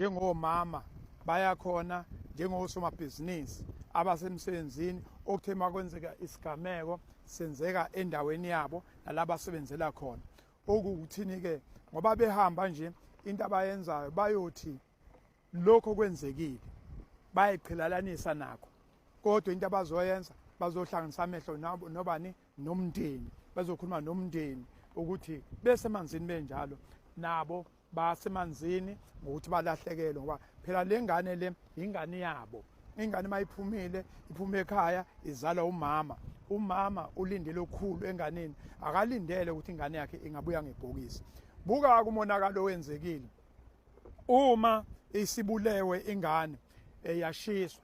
njengomama bayakhona njengosomabhizinisi abasemsebenzini okuthe makwenzeka isigameko senzeka endaweni yabo nalaba asebenzela khona okuwukuthini ke ngoba behamba nje into abayenzayo bayothi lokho kwenzekile bayiqhelalanisa nakho kodwa into abazoyenza bazohlanganisa amehlo nabo nobani nomndeni bazokhuluma nomndeni ukuthi besemanzini benjalo nabo basemanzini ngokuthi balahlekelwe ngoba phela le ngane le yingane yabo ingane uma iphumile iphume ekhaya izalwa umama umama ulindele okukhulu enganeni akalindele ukuthi ingane yakhe ingabuya ngebhokisi buka kumonakalo owenzekile uma isibulewe ingane eyashiswa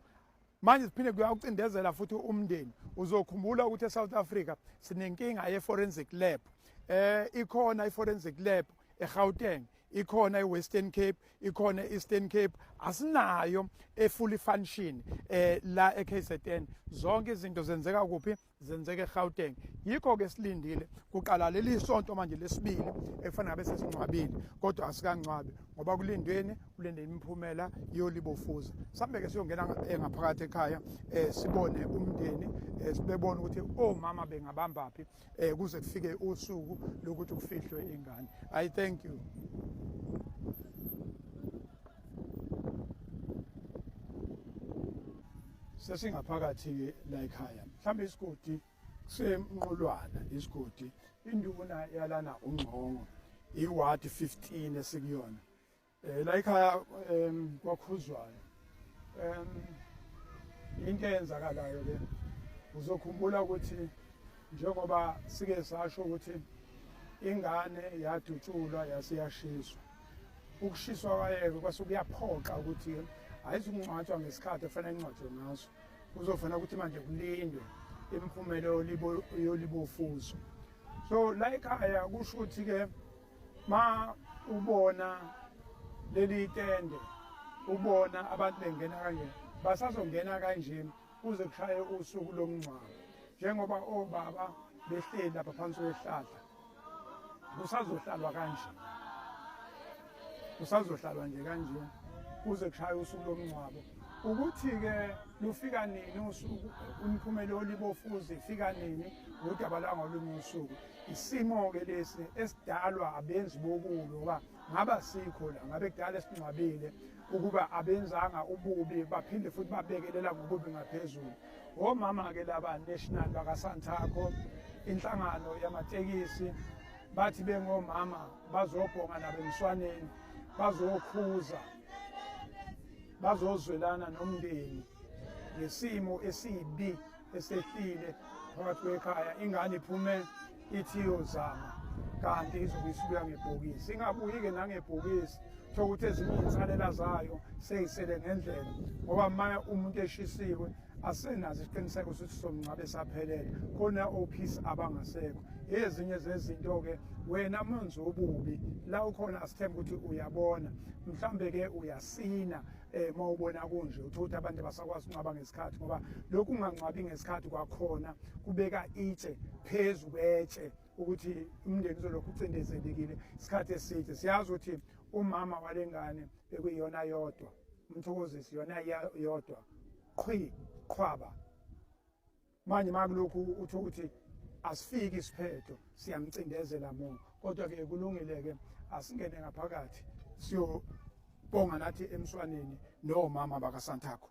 manje siphinde kuyawucindezela futhi umndeni uzokhumbula ukuthi eSouth Africa sinenkinga ye-forensic lab eh ikhona i-forensic lab eGauteng ikhona iWestern Cape ikhona iEastern Cape asinayo efully function eh la eKZN zonke izinto zenzeka kuphi zenzeke eGauteng yikho ke silindile kuqala leli sonto manje lesibili ekufanele ngabe sesingcwabile kodwa asikangcwabi ngoba kulindweni kulinde imiphumela yolibofuza sambe ke siyongena eh, ngaphakathi ekhaya eh, sibone umndeni eh, sibebona ukuthi omama bengabambaphi kuze kufike usuku lokuthi kufihlwe ingane i thank you sesingaphakathi la ekhaya mhlawumbe isigodi kusemnqolwana isigodi induna yalana ungqongo iward 15 esikuyona eh la ekhaya em kwakhuzwayo em into eyenzakalayo ke uzokhumbula ukuthi njengoba sike sasho ukuthi ingane yadutshulwa yasiyashiswa ukushiswa kwayeke kwase kuyaphoqa ukuthi ayizukungcwatshwa ngesikhathi efanele ingcwatshwe ngaso kuzofanele ukuthi manje kulindwe imiphumela yolibofuzo so la ekhaya kusho ukuthi-ke ma ubona leli tende ubona abantu bengena kanje basazongena kanje kuze kushaye usuku lomngcwabo njengoba obaba behleli lapha phansi kwehlahla kusazohlalwa kanje kusazohlalwa nje kanje kuze kushaye usuku lomngcwabo ukuthi-ke lufika nini usuku umphumela olibofuzi ifika nini ngudaba lwangolunye usuku isimo-ke lesi esidalwa abenzi bokubi ngoba ngaba sikho la ngabe kudala esingcwabile ukuba abenzanga ububi baphinde futhi babekelela ngokubi ngaphezulu omama-ke laba national bakasanthakho inhlangano yamatekisi bathi bengomama bazobhonga nabemswaneni bazokhuza bazozwelana nomndeni ngesimo esibi esehlile phakathi kwekhaya ingane iphume ithi yozama kanti izobe isubuya ngebhokisi ingabuyi-ke nangebhokisi thola ukuthi ezinye iy'nsalela zayo seyisele ngendlela ngoba manye umuntu eshisiwe asenazo isiqiniseko sokuthi somngcwabe esaphelele khona ophisi abangasekho ezinye zezinto-ke wena manje obubi la ukhona asithembe ukuthi uyabona mhlambe-ke uyasina eh uma ubona kunje uthothi abantu abasakwazi uncwaba ngesikhathi ngoba lokhu ungangcwabi ngesikhathi kwakhona kubeka itshe phezu kwetshe ukuthi umndeni uzolokhu ucindezelekile isikhathi eside siyazi ukuthi umama walengane bekuyiyona yodwa umthokozisi yona yodwa qhwi qhwaba manje makulokhu uthi ukuthi asifiki isiphetho siyamcindezela mungu kodwa-ke kulungile-ke asingene ngaphakathi siyobonga nathi emswaneni nomama bakasanthakho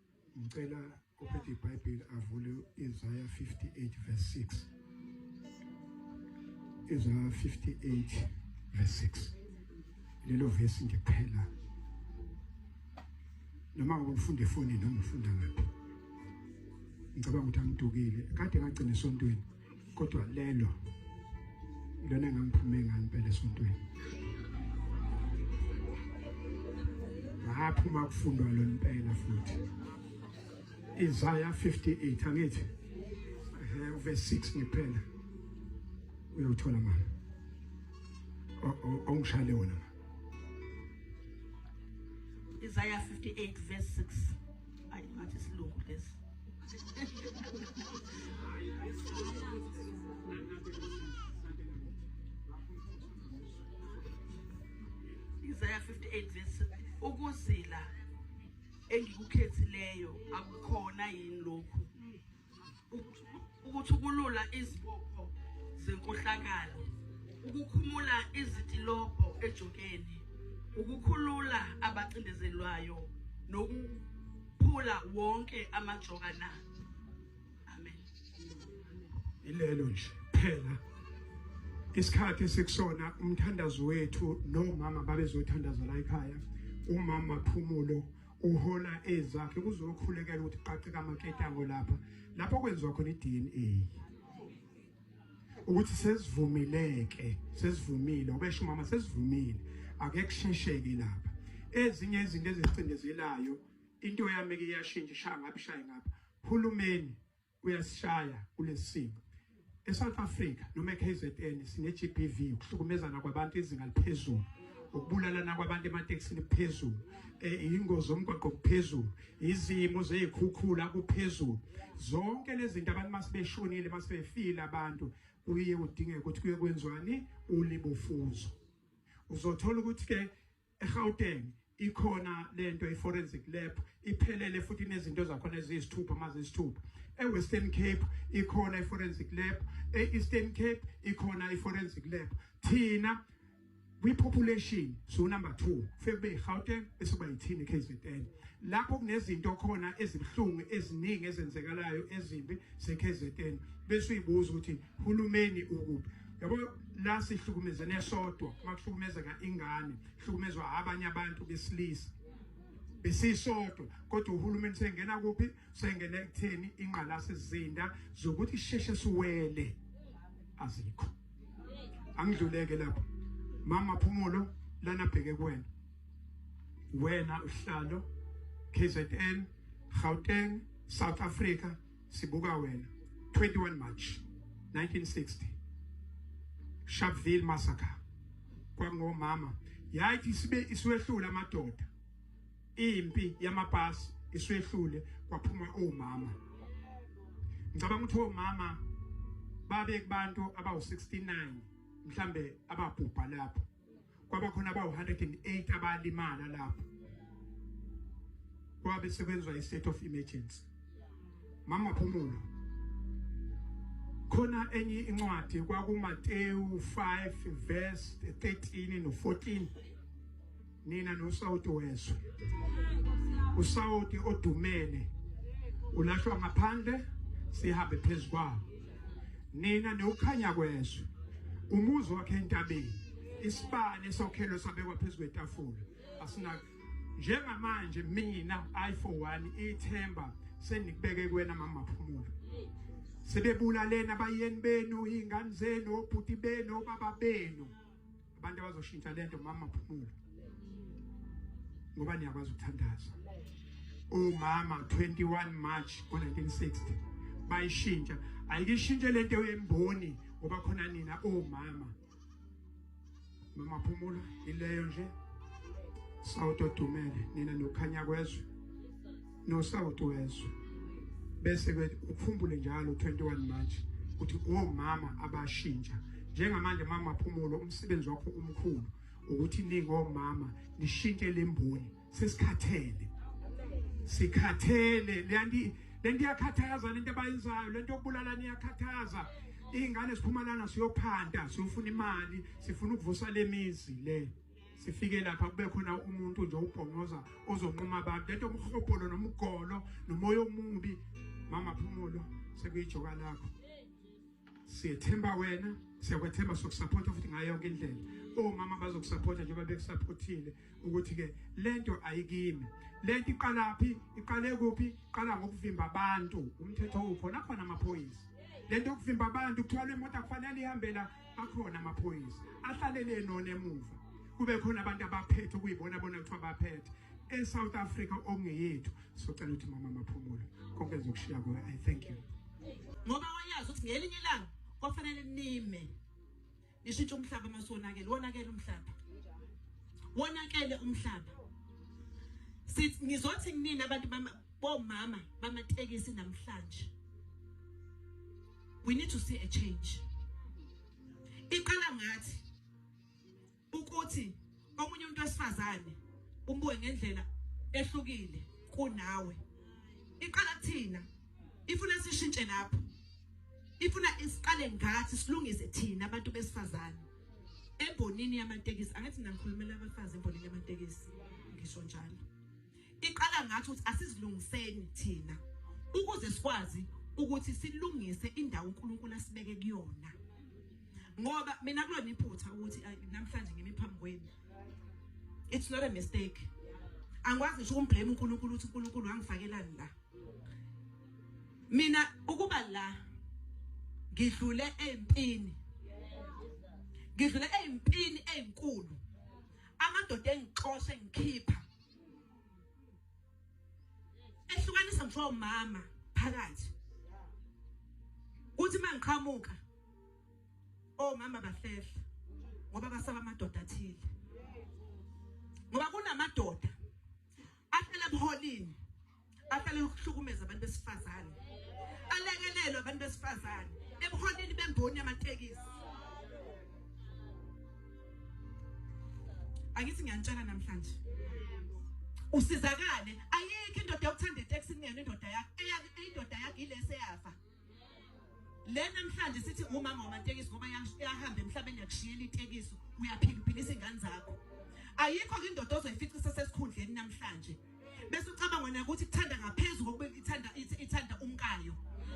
Ngicela ophethe iBhayibheli avule Isaiah 58 verse 6. Isaiah 58 verse 6. Lelo verse nje kuphela. Noma ngifunda efonini noma ngifunda ngaphi. Ngicabanga ukuthi angidukile. Kade ngagcina esontweni. kodwa lelo lona engangiphume ngani phela esontweni ngaphuma kufundwa lo impela futhi Isaiah 58 angithi eh verse 6 ngiphela uyothola mama awungishale wona Isaiah 58 verse 6 ayi ngathi isilungu lesi Isaiah 58 verse ukuzila engikukhethileyo akukhona yini lokhu ukuthukulula izibopho zenkohlakalo ukukhumula izitilobho ejokeni ukukhulula abacindezelwayo nokuphula wonke amajoka na amen ilelo nje phela isikhathi sikusona umthandazo wethu nomama babezothandaza la ekhaya umama phumulo uhola ezakhe kuzokhulekela ukuthi qaqe kamaketango lapha lapho kwenziwa khona iDNA ukuthi sesivumileke sesivumile ubesho mama sesivumile ake kushesheke lapha ezinye izinto ezicindezelayo into yami ke iyashintsha ishaya ngapha ishaya ngapha hulumeni kuyasishaya kulesimo eSouth Africa noma eKZN sine GBV ukuhlukumezana kwabantu izinga liphezulu ukubulalana kwabantu ematekisini kuphezulu eh, ingozi omgwaqo kuphezulu izimo zezikhukhula kuphezulu zonke lezi zinto abantu masebeshonile masebefile abantu kuye kudingeke ukuthi kuye kwenziwani ulibofuzo uzothola ukuthi ke eGauteng ikhona lento iforensic lab iphelele futhi inezinto zakhona eziyisithupha mazisithupha eWestern Cape ikhona iforensic lab eEastern Cape ikhona iforensic lab thina kwi-population so number 2 fekube iGauteng esuba yithini KZN lapho kunezinto khona ezibuhlungu eziningi ezenzekalayo ezimbi seKZN bese uyibuza ukuthi hulumeni ukuphi yabo la sihlukumezene sodwa uma kuhlukumezeka ingane hlukumezwa abanye abantu besilisa besisodwa kodwa uhulumeni sengena kuphi sengena ekutheni ingqalase zinda zokuthi sheshe siwele azikho angidluleke lapho mama phumulo lana bheke kuwena wena uhlalo KZN Gauteng South Africa sibuka wena 21 March 1960 Sharpeville massacre kwangomama yathi isibe iswehlula amadoda impi yamapasi iswehlule kwaphuma omama ngicabanga ukuthi omama babe kubantu abawu 69 mhlambe ababhubha lapho kwabakhona abawu-108 abalimala lapho kwabe sekwenzwa i-state of emergency mama phumulo khona enye incwadi kwakumatewu 5 verse 13 no-14 nina nosawoti wezwe usawoti odumele ulahlwa ngaphandle sihambe phezu kwabo nina niwukhanya kwezwe umuzi wakhe entabeni isibani esokhelo sabekwa phezu kwetafula asina njengamanje mina i for one ithemba senikubeke kuwena mama phumula sebebulalena bayeni benu ingane zenu obhuti benu obaba benu abantu abazoshintsha lento mama phumula ngoba niyakwazi ukuthandaza umama 21 March ngo1960 bayishintsha ayikishintshe lento yemboni ngoba khona nina omama mama phumula ileyo nje sawuto dumele nina nokhanya kwezwe nosawoti wezwe bese ke ukhumbule njalo 21 March ukuthi omama abashintsha njengamanje mama phumulo umsebenzi wakho umkhulu ukuthi ningomama nishintshe lemboni sesikhathele sikhathele leyanti lento iyakhathaza lento abayenzayo lento yokubulala niyakhathaza ingane siphumalana siyophanda siyofuna imali sifuna ukuvusa lemizi le sifike lapha kube khona umuntu nje ubhongoza ozonquma abantu lento umhobholo nomgolo nomoya omubi mama phumulo sekuyijoka lakho siyethemba wena siyakwethemba sokusaphotha futhi ngayo yonke indlela omama bazokusaphotha njengoba bekusaphothile ukuthi-ke le nto ayikimi le nto iqalaphi iqale kuphi iqala ngokuvimba abantu umthetho ukhona khona amaphoyisa le nto yokuvimba abantu kuthiwa le moto akufanele ihambela akhona amaphoyisa ahlalele enona emuva kube khona abantu abaphethe ukuyibona bona kuthiwa baphethe e-south africa okungeyethu socela ukuthi mama maphumulo konke ngizokushiya kuwe i thank you ngoba wayazi ukuthi ngelinye ilanga kwafanele nime nishintshe umhlaba uma siwonakele wonakele umhlaba wonakele umhlaba sithi ngizothi kunini abantu bomama bamatekisi namhlanje we need to see a change iqala ngathi ukuthi omunye umuntu wesifazane umbuke ngendlela ehlukile kunawe iqala kuthina ifuna sishintshe lapho ifuna isiqale ngathi silungise thina abantu besifazane embonini yamatekisi angathi ngikhulumela abafazi embonini yamatekisi ngisho njalo Iqala ngathi ukuthi asizilungiseni thina ukuze sikwazi ukuthi silungise indawo uNkulunkulu asibeke kuyona. Ngoba mina kulona iphutha ukuthi namhlanje ngimi phambi kwenu. It's not a mistake. Angikwazi ngisho ukumblame uNkulunkulu ukuthi uNkulunkulu wangifakelani la. Mina ukuba la ngidlule empini ngidlule ezimpini ezinkulu amadoda engixoshe ngikhipha ehlukanisa ngisho umama phakathi kuthi mangiqhamuka omama oh, bafehla ngoba basaba amadoda athile ngoba kunamadoda afela ebuholini ahlale ukuhlukumeza abantu besifazane alekelelwe abantu besifazane ebuholini bemboni yamatekisi angithi ngiyanitshela namhlanje usizakale ayikho indoda yokuthanda iteksi kungena indoda yakhe indoda yakhe ilese yafa le namhlanje sithi umama wamatekisi ngoba yahamba emhlabeni yakushiyela itekiso uyaphila uphilisa ingane zakho ayikho ke indoda ozoyifica isesesikhundleni namhlanje bese ucabanga wena ukuthi kuthanda ngaphezulu kokuba ithanda ithanda umkayo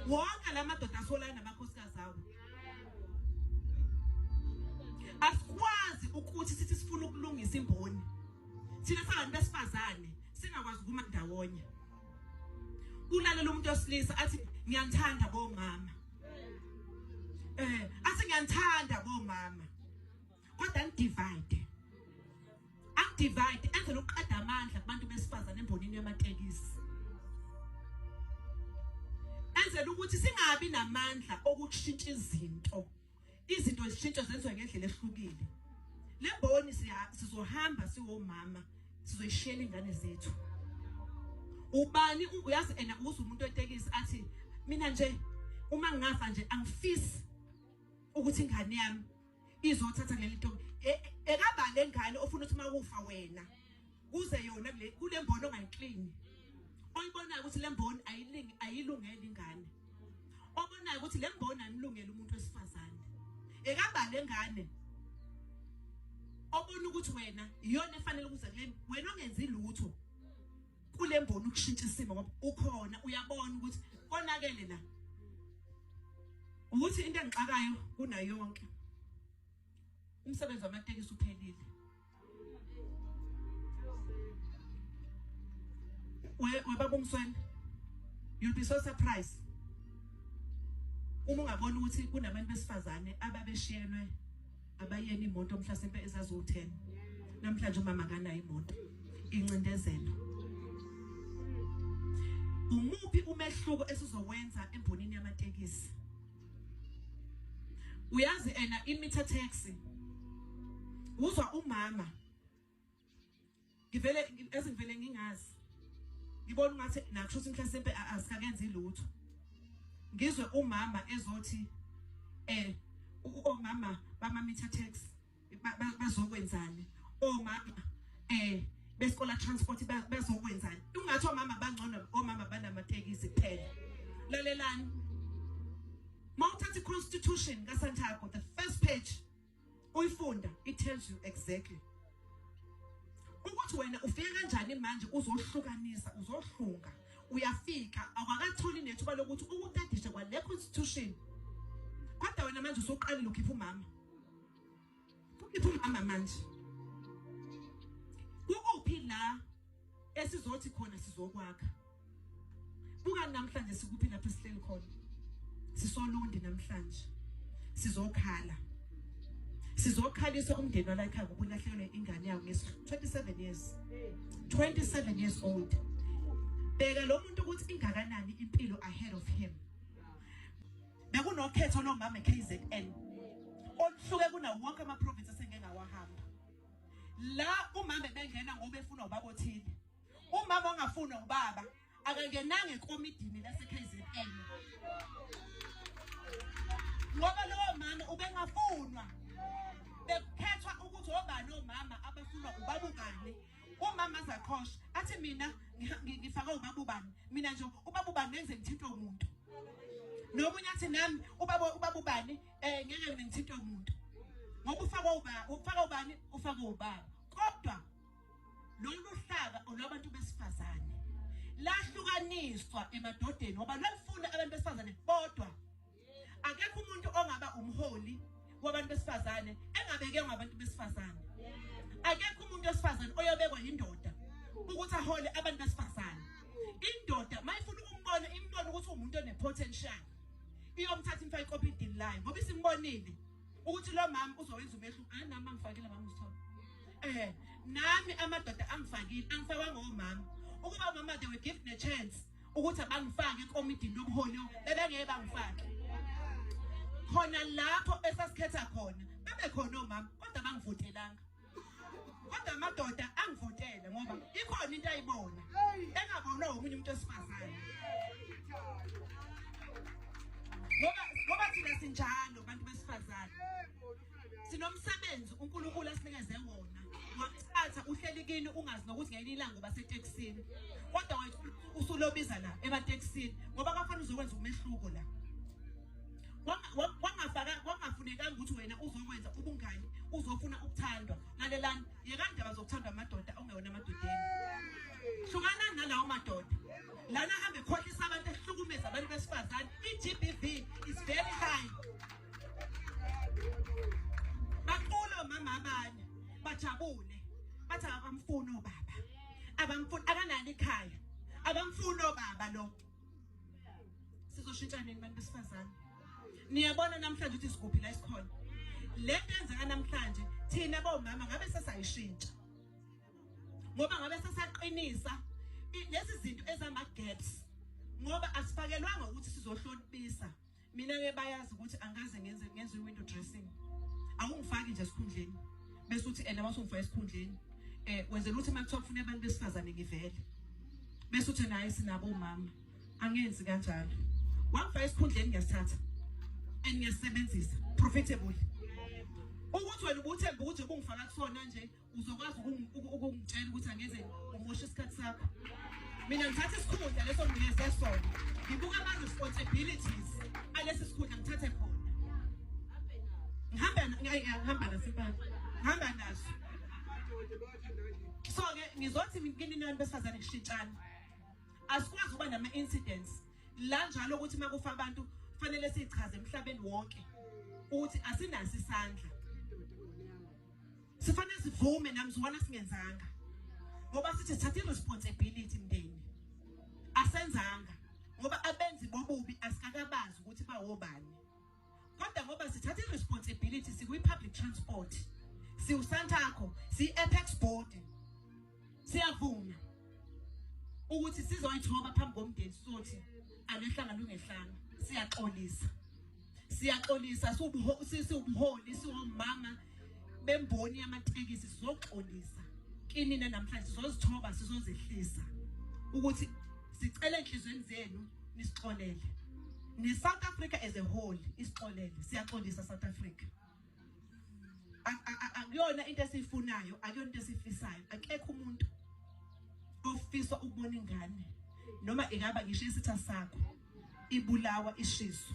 wonke la madoda asolana namakhosikazi awo asikwazi ukuthi sithi sifuna ukulungisa imboni thina sabantu besifazane singakwazi ukuma ndawonye kulalela umuntu osilisa athi ngiyanithanda bomama eh athi ngiyanithanda bomama kodwa ngidivide angidivide enze lokuqeda amandla kubantu besifazane embonini yamatekisi enzela ukuthi singabi namandla okushintsha izinto izinto zishintsha zenziwa ngendlela ehlukile le mboni sizohamba siwomama sizoyishela ingane zethu ubani uyazi ena uze umuntu etekisi athi mina nje uma ngingafa nje angifisi ukuthi ingane yami izothatha leli ntombi e, e, ekabale ngane ofuna ukuthi makufa wena kuze yona kule kule mboni ongayiklini oyibonayo ukuthi le mboni ayilingi ayilungele ingane obonayo ukuthi le mboni anilungele umuntu wesifazane ekabale ngane obona ukuthi wena iyona efanele ukuza kuleni wena ongenzi lutho kule mboni ukushintsha isimo ngoba ukhona uyabona ukuthi konakele la ukuthi into engixakayo kunayo yonke umsebenzi wamatekisi uphelile We we baba umsweni. You'll be so surprised. Uma ungabona ukuthi kunabantu besifazane ababeshiyelwe abayeni imoto mhlasimpe ezaziwu-10 namhlanje umama akanayo imoto incindezelo umuphi umehluko esizowenza embonini yamatekisi uyazi ena imitha taxi uzwa umama ngivele ezingivele ngingazi ngibona ungathi nakusho ukuthi mhlasimpe asikakenzi lutho ngizwe umama ezothi eh omama bamamitha taxi bazokwenzani omama eh beskola transport bazokwenzani ungathi omama bangcono omama banamatekisi kuphela lalelani mawuthatha iconstitution kaSantiago the first page uyifunda it tells you exactly ukuthi wena ufike kanjani manje uzohlukanisa uzohlunga uyafika awakatholi nethuba lokuthi ukutadishe kwale constitution kodwa wena manje usuqalile ukhipha umama Ukhipha umama manje. Kukuphi la esizothi khona sizokwakha? Buka namhlanje sikuphi lapho sihleli khona. Sisolundi namhlanje. Sizokhala. Sizokhalisa umndeni walakhaya ngokulahlekelwa ingane yawo ngesi 27 years. 27 years old. Bheka lo muntu ukuthi ingakanani impilo ahead of him. Bekunokhetho lomama eKZN oluhluke kunawo wonke amaprovince esengeke ngawahamba. La umama bengena ngoba efuna ubaba othile. Umama ongafuna ubaba akangenanga ekomidini laseKZN. Ngoba lowo mama ubengafunwa bekukhethwa ukuthi obani omama abafunwa ubaba ubani umama zakhosha athi mina ngifake ubaba ubani mina nje ubaba ubani ngenze ngithintwe umuntu nomunye athi nami ubaba ubaba ubani eh ngeke mina ngithintwe umuntu ngoba ufaka ubaba ufaka ubani ufaka ubaba kodwa lolu hlaka olabantu besifazane lahlukaniswa emadodeni ngoba lolufuna abantu besifazane bodwa akekho umuntu ongaba umholi wabantu besifazane engabekwe ngabantu besifazane akekho umuntu wesifazane oyobekwa yindoda ukuthi ahole abantu besifazane indoda mayifuna ukumbona imbona ukuthi umuntu onepotential iyomthatha imfake ikopidini layo ngoba isimbonile ukuthi lo mama uzowenza umehluko hayi nami angifakile mama usithole eh nami amadoda angifakile angifakwanga omama ukuba mama they were given a chance ukuthi abangifake ekomidini lobuholi bebengeke bangifake khona lapho esasikhetha khona bebe khona omama kodwa bangivotelanga kodwa amadoda angivotele ngoba ikhona into ayibona engabonwa omunye umuntu esifazane ngoba ngoba thina sinjalo bantu besifazane sinomsebenzi uNkulunkulu asinikeze wona wakuthatha uhleli kini ungazi nokuthi ngelinye ilanga uba setekisini kodwa wethu usulobiza la ematekisini ngoba kwafanele uzokwenza umehluko la wangafunekanga ukuthi wena uzokwenza ubungani uzofuna ukuthandwa lalelani yekandaba zokuthandwa amadoda ongewona amadodeni hlukanani nalawo madoda lana hambe khohlisa abantu ehlukumeza abantu besifazane i-gbv is very high Baqolo mama abanye bajabule bathi akamfuni obaba abamfuni akanani ikhaya abamfuni obaba lo sizoshintsha nini bantu besifazane niyabona namhlanje ukuthi sikuphi la isikhona le nto enzeka namhlanje thina bomama ngabe sesayishintsha ngoba ngabe sesaqinisa lezi zinto ezama-gaps ngoba asifakelwanga ukuthi sizohlonipisa mina ke bayazi ukuthi angikaze ngenze ngenze window dressing awungifaki nje esikhundleni bese uthi ena wasungifaka esikhundleni eh wenzela ukuthi makuthiwa kufuna abantu besifazane ngivele bese uthi naye sinabo umama angenzi kanjalo wangifaka esikhundleni ngiyasithatha and ngiyasebenzisa profitable ukuthi wena ubuthemba ukuthi ubungifaka kusona nje uzokwazi ukungitshela ukuthi angeze umoshe isikhathi sakho mina ngithatha isikhundla leso ngineze sona ngibuka ama-responsibilities alesi sikhundla ngithathe khona ngihamba nasempana ngihamba naso so-ke ngizothi kini nani besifazane kushintshana asikwazi ukuba nama-incidents la njalo ukuthi uma kufa abantu kufanele siyichaze emhlabeni wonke ukuthi asinaso isandla sifanele sivume namzwana singenzanga ngoba sithi thatha iresponsibility mndeni asenzanga ngoba abenzi bobubi asikakabazi ukuthi bawobani kodwa ngoba sithatha iresponsibility sikwi public transport siwusantakho siyi apex board siyavuma ukuthi sizoyithoba phambi komndeni sothi alehlanga lungehlanga siyaxolisa siyaxolisa siwubuholi siwomama bemboni yamatekisi sizoxolisa kinina namhlanje sizozithoba sizozehlisa ukuthi sicela enhlizweni zenu nisixolele ne-south africa as a whole isixolele siyaxolisa south africa akuyona into esiyifunayo akuyona into esifisayo akekho umuntu ofisa ukubona ingane noma ingaba ngisho isitha sakho ibulawa ishiso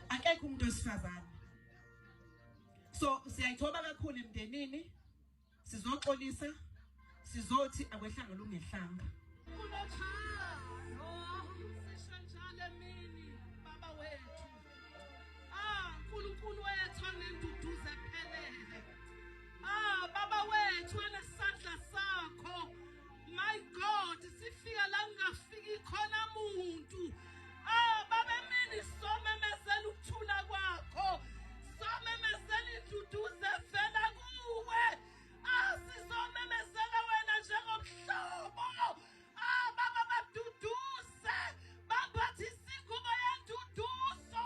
akekho umuntu osifazane so siyayithoba kakhulu emndenini sizoxolisa sizothi akwehlanga lungehlanga ah, nkulunkulu wethu anenduduzo ephelele ah baba wethu enesandla sakho My God, sifika la kungafiki khona muntu. Ah, baba emini somemezela ukuthula kwakho. Somemezela induduze evela kuwe. Ah, sizomemezela wena njengomhlobo. Ah, baba baduduze. Baphathisa ingubo yenduduzo.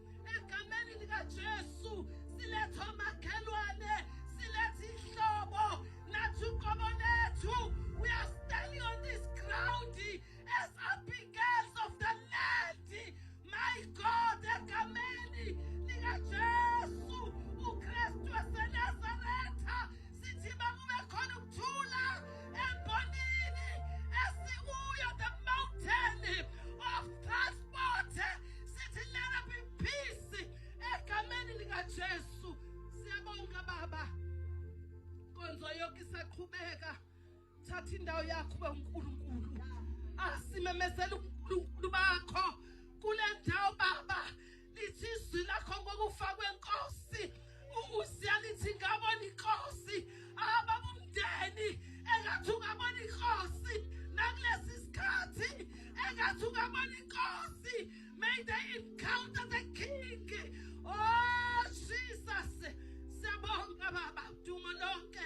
egameni likaJesu siletha omakhelwane siletha ihlobo nathi uqobo lethu we are standing on this ground as abigails of the land my god egameni likaJesu uKristu waseNazaretha sithi makube khona ukuthula embonini esikuyo the mountain of transport Sithi let up in peace egameni likaJesu. Siyabonga baba. Konzo yonke isaqhubeka. Thatha indawo yakho ube uNkulunkulu. Asimemezela uNkulunkulu bakho kule ndawo baba. Lithi izwi lakho ngokufa kwenkosi. usiyalithi ngabona inkosi ababa umndeni engathi ungabona inkosi nakulesi sikhathi engathi ungabona inkosi may they encounter the king oh jesus siyabonga baba duma lonke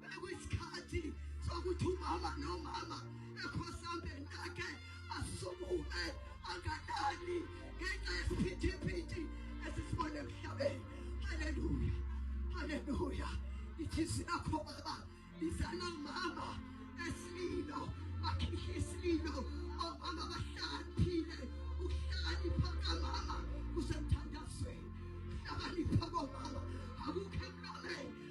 Bekuyisikhathi sokuthi umama nomama ekhosambeni lakhe asumuke angadani ngenxa yesiphithiphithi esisibone emhlabeni. Haleluya, haleluya. Ithizwi lakho baba lizala umama esililo bakhishwe isililo omama bahlakaniphile ukuhlakanipha kamama kusemthandazweni hlakanipha komama akukho emlomeni